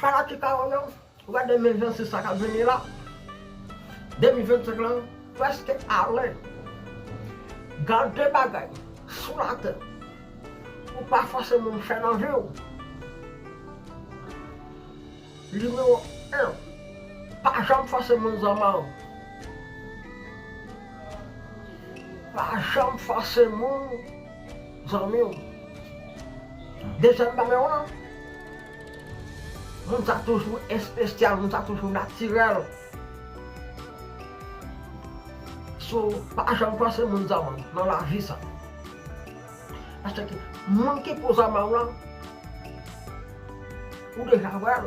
Sa la ki pawòl yo, ou wè 2026 la kap vini la, 2025 lan prèske ale, gad de bagay sou latè ou pa fòse moun fè nan vi w, nimewo 1 pa janm fòse moun zanman w, pa janm fòse moun. Zanmiw dezyèm bagay lan moun sa toujou espesyal moun sa toujou natirèl so pa janm fòse moun zanmanw nan lavi sa paske moun ki pou zanmanw lan ou deja wèl.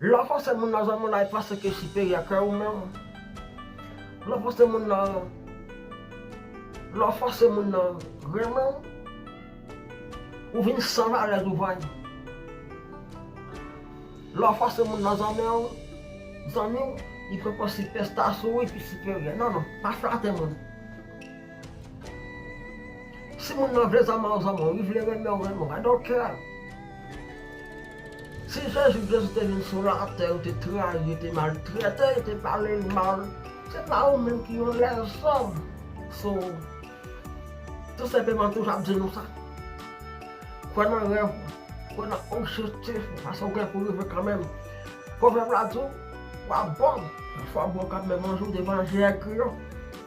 Lè w fòse moun nan zanmi w la e panse ke l siperyè ke ou menm, lè w fòse moun nan, lè w fòse moun nan renmen w, ou vin san valè douvan li. Lè w fòse moun nan zanmi w, zanmi w, li poko sipèsta sou ou, li pi siperyè. Non non, pa flate moun. Si moun nan vle zanman w zanman w, li vle renmen w renmen w, I don't care. Si Jezi, Jezi te vin sou latè, yo te trayi, yo te maltrete, yo te pale l mal, se pa ou menm ki yon lèzòm. So, tou senpleman toujou ap di nou sa. Kwè nan rèv ou, kwè nan objektif ou, paske ou gen pou rive kanmenm. Pwovèb la di w, wap bon, fwa bon kap menm yon jou devan je Èg Kriyon.